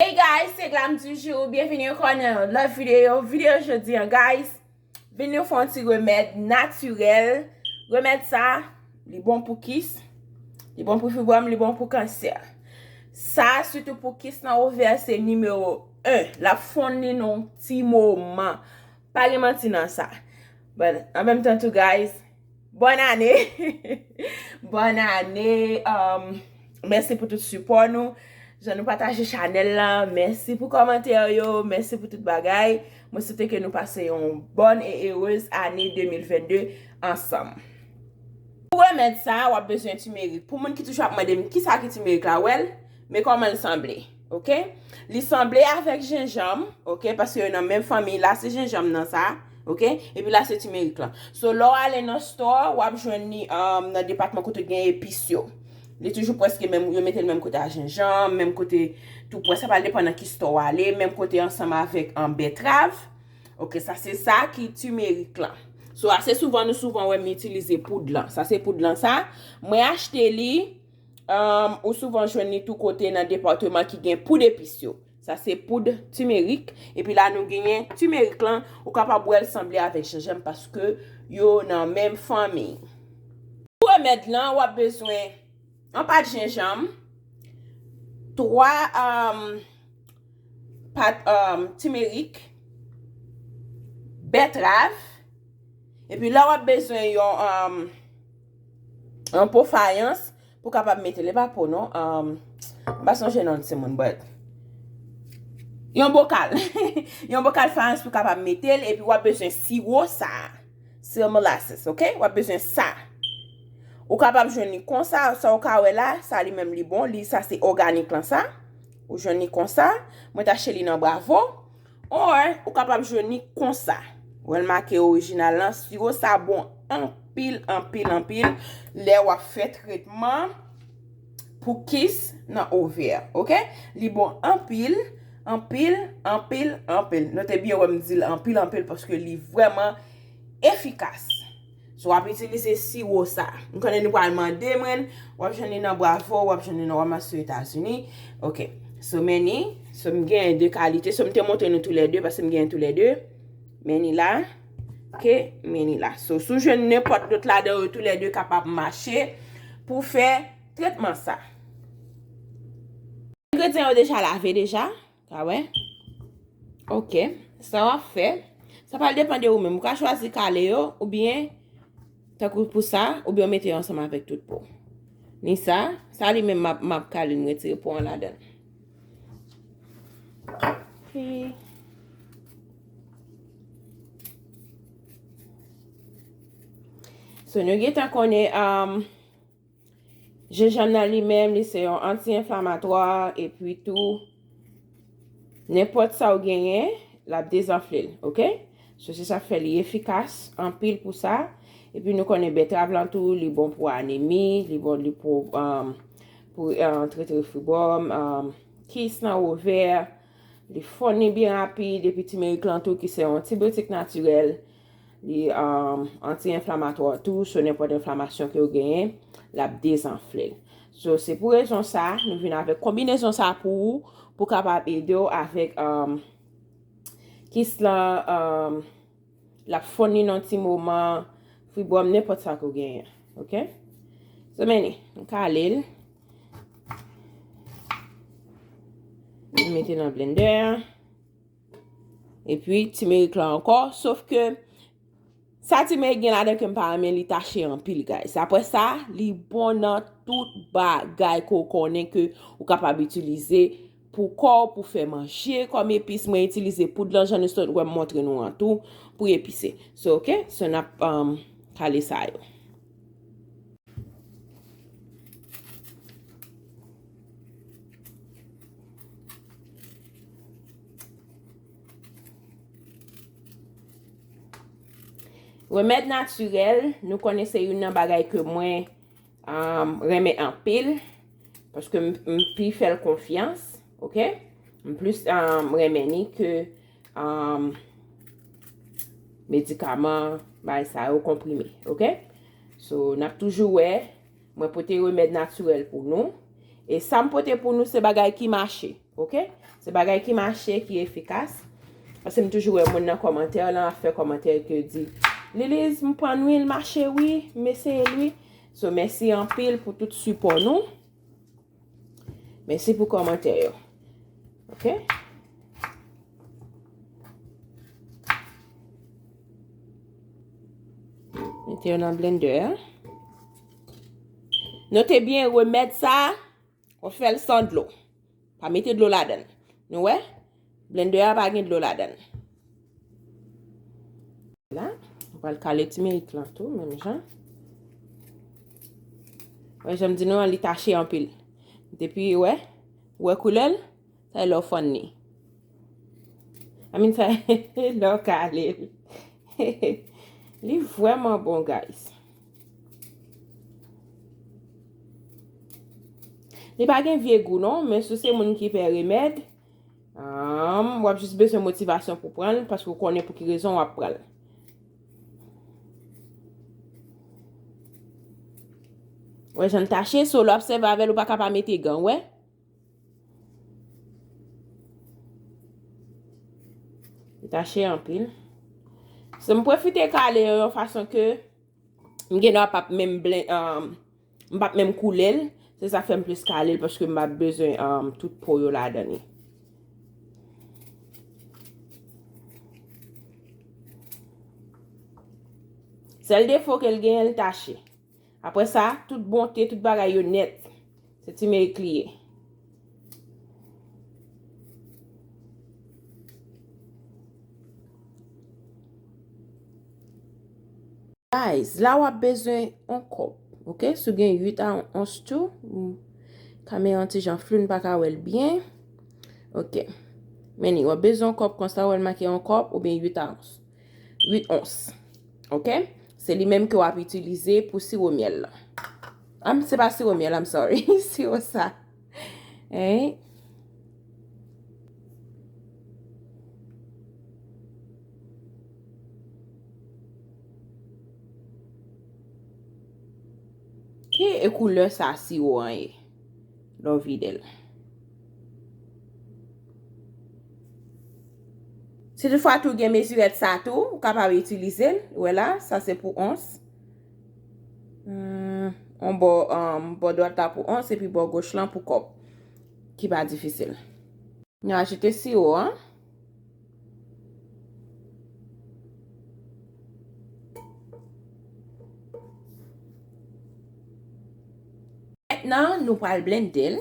Hey guys se glam du jour byenvini ankò nan yon lòt videyo videyo jodi an guys vin nou fon ti remèd natirèl remèd sa li bon pou kis li bon pou fibwòm li bon pou kansè sa sitou pou kis nan ovè se nimewo 1 lap fon li nan yon ti moman Pa gen manti nan sa. Bon, an menm tan tou guys, Bòn ane! Bòn ane! Um, mèsi pou tout sipò nou, jan nou pataje chanèl la, mèsi pou kòmantè yo, mèsi pou tout bagay. Mwen swete ke nou pase yon bòn e erez ane 2022 ansanm. Pou remèd sa, wap bezwen timerik. Pou moun ki toujou ap mande m kisa ki timerik la, wèl, men kòman l sanble. Ok li sanble avèk jenjanm ok paske yo nan menm fanmi la se jenjanm nan sa ok epi la se timerik lan so lò ale nan store wap jwenn ni um, nan depatman kote gen epis yo li toujou preske menm yo metel menm kote a jenjanm menm kote tou pwè sa pral depan nan ki store wale menm kote ansanm avèk an um, betrav ok sa se sa ki timerik lan so ase souvan nou souvan wèm itilize poud lan sa se poud lan sa mwen achte li Ou souvan jwenn li tou kote nan departeman ki gen poud epis yo. Sa se poud timerik. E pi la nou genyen timerik lan. Ou kapab wèl sanble avèk jenjanm paske yo nan menm fanmi. Pou remèd lan, wap bezwen yon pat jenjanm, 3 pat timerik, bètrav, e pi la wap bezwen yon. An po fayans pou kapab mete le pa po non M pa sonje non ti moun but Yon bokal Yon bokal fayans pou kapab mete l epi w ap bezwen siwo sa Siwo molasses ok w ap bezwen sa Ou kapab jwenn li konsa sa ou ka wè la sa li menm li bon li sa se oganik lan sa Ou jwenn li konsa mwen ta achte li nan bravo. Or, ou kapab jwenn li konsa. Wè l make orijinal lan, siwo sa bon anpil, anpil, anpil lè w ap fè tretman pou kis nan ovè. Ok? Li bon anpil, anpil, anpil, anpil. Note byen wè m di l anpil, anpil paske li vrèman efikas. So wap itilize siwo sa. M konnen nou pral mande mwen, wap jwenn li nan Bravo, wap jwenn li nan Walmart sou Etazini. Ok. So meni, so m gen 2 kalite, so m te montre nou tou lè 2 paske m gen tou lè 2. Meni la. Ok, meni la. So sou jwenn nenpòt lòt ladan yo tou lè 2 kapab mache pou fè tretman sa. Engredyan yo deja lave deja. Sa wè? Ok. Sa w ap fè, sa pral depan de ou menm. Ou ka chwazi kale yo, ou byen, tan kou pou sa, ou byen ou mete yo ansanm avèk tout po. Ni sa, sa li menm m ap kale m retire po an ladan. Ok. So nou gen tan konnen am. Um, Jenjanm nan li menm li se yon anti-enflamatwa epi tou nenpòt sa ou genyen l ap dezanfle l ok so se sa k fè li efikas anpil pou sa epi nou konnen betrav lan tou li bon pou anemi li bon li pou um, pou uh, trete refibòm um, kis nan ovè li fon ni byen rapid epi timerik lan tou ki se yon antibiotik natirèl Li anti-enflamatwa tou, so nenpòt enflamasyon ke ou genyen, l ap dezanfle l. So, se pou rezon sa, nou vin avèk konbinezon sa pou ou, pou kapab ede ou avèk euh, kis la euh, l ap fonn li nan yon ti moman, fibwòm, nenpòt sa ke ou genyen. Ok? So, men li, m kale l. M mete nan blendè a. E pi timerik la ankò. Sof ke sa timerik gen la den ke m pa renmen li tache anpil guys. Apre sa li bon nan tout bagay ke w konnen ke ou kapab itilize pou kò w pou fè manje kòm epis. Mwen itilize poud lan jan nou sot wè m montre nou an tou pou epise. So ok. So nap kale sa yo. Remèd natirèl, nou konnen se yon nan bagay ke mwen um, renmen anpil. Paske m pi fèl konfyans, ok? M plis um, renmen ni ke... Medikaman, bay sa yo konprime, ok? So, nap toujou wè, mwen pote remèd natirèl pou nou. E sa m pote pou nou se bagay ki mache, ok? Se bagay ki mache, ki efikas. Ase m toujou wè moun nan komantè lan, ap fè komantè ke di, Liliz, m pran wi, l mache wi, m eseye l wi. So, mèsi anpil pou tout sipò nou. Mèsi pou kòmantè yo. Ok. Mete yo nan blendè a. Note byen remèd sa a, ou fè l san dlo. Pa mete dlo ladan. Nou wè? Blender a pa gen dlo ladan. La, m pral kale timerik lan tou, menm jan. Wè, janm di nou an li tache anpil. Depi, wè, wè koulèl, sa e lò fòn ni. Amin sa e lò kale. Li vwèman bon, guys. Li pa gen vye gou non, men sou se moun ki pè remèd, Humm wap jis bezwen motivasyon pou pran l paske ou konnen pou ki rezon wap pran l. Wè jan l tache so lè wap sèvi avè l ou pa ka pa mete gan ou wè. Li tache anpil. Se m pwofite kale yo yon fason ke m gen dwa pap menm blen. M pap menm koule l. Se sa k fè m plis kale l paske m pa bezwen tout po yo ladan li. Sèl defo ke l genyen l tache. Aprè sa, tout bonte, tout bagay yo nèt. Se timerik li ye. Guys, la wap bezwen on kop. Ok, sou gen 8 a on ons tou. Kame yon ti jan flou n pa ka wel byen. Ok. Meni, wap bezwen on kop konsa wel make on kop ou byen 8 a ons. 8 ons. Ok? Se li menm ke w ap itilize pou siwo myèl la. Am, se pa siwo myèl, am sorry. Siwo sa. Hey. Ki e koulè sa siwo an e? Lè w vide l. Si tout fwa tou gen mezirèt sa tou, ou kapab itilize l. Ou wè la, sa se pou ons. On bò, bò dwat la pou ons, epi bò goch lan pou kòp. Ki pa difisil. Nou ajoute siwo an. Nan nou pral blende l.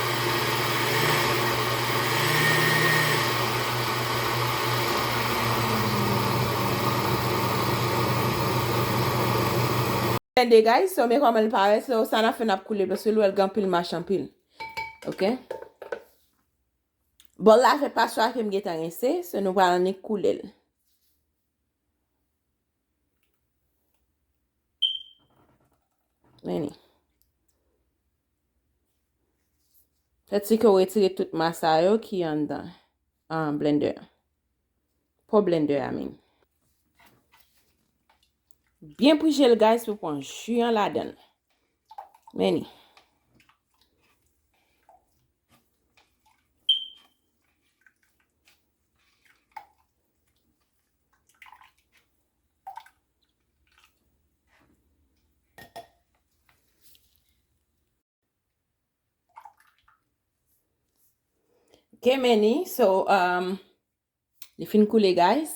Ken degay so me koman l paret so sa nap fe nap koule dlo sou l wel gen anpil mach anpil ok bol la se paswa kem gentan rinse so nou pral annik koule l. Meni. Fè ti ke ou etire tout masa yo ki an dan. An blender. Po blender a meni. Byen pwije l guys pou pon ju an la dan. Meni. Ke meni, so, um, li fin koule guys.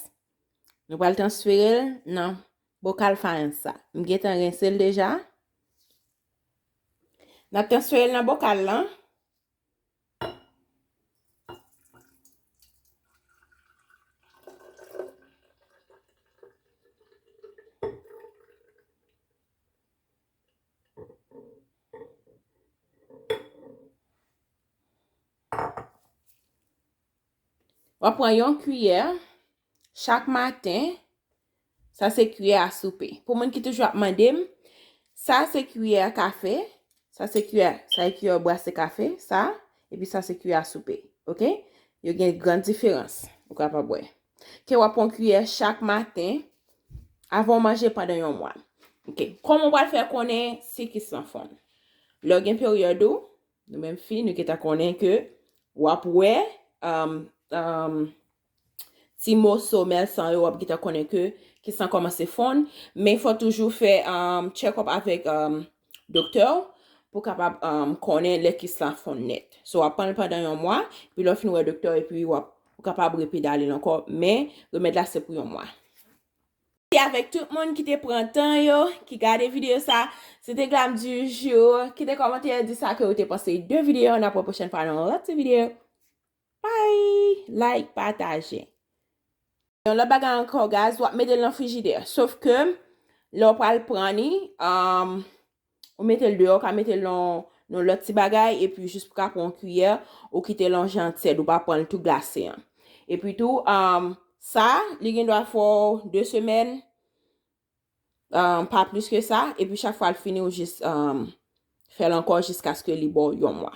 Nou pral transfere l nan bokal fayans sa. M gen tan rense l deja. Nap transfere l nan bokal lan. Wap pran yon kiyè. Chak maten, sa se kiyè a soupe. Pou moun ki toujou ap mande m, sa se kiyè a kafe, sa se kiyè, sa e kiyè ou brase kafe, sa, epi sa se kiyè a soupe. Ok? Yo gen gran diferans. Ou ka pa bwè. Ke wap pran kiyè chak maten, avan ou manje pandan yon mwa. Ok. Koman wap fè konnen si kis lan fonn? Lè ou gen peryòd ou, nou menm fi, nou gentan konnen ke wap wè, emm, emm, ti moso mèl san yo wap gentan konnen ke ki san komanse fonn men fò toujou fè check up avèk doktè ou pou kapab konnen lè kis la fonn nèt so wap pranl pandan yon mwa epi lè w fin wè doktè ou epi wap kapab repedalel ankò men remèd la se pou yon mwa. Mèsi avèk tout moun ki te pran tan yo ki gade videyo sa se te glam du jour kite kòmantè di sa ke ou te panse de videyo an aprè pwochèn fwa nan yon lòt ti videyo. Bye like pataje. Yon lòt bagay ankò guys wap metel nan frijidè sof ke lè ou pral pran ni um ou metel deyò ou ka metel nan yon lòt ti bagay epi jis pou ka pran yon kiyè ou kitel nan jan tyèd ou pa pranl tou glase an epi tou um sa li gen dwa fèw 2 semèn um pa plis ke sa epi chak fwa l fini ou jis um fèl ankò jiskaske li baw yon mwa.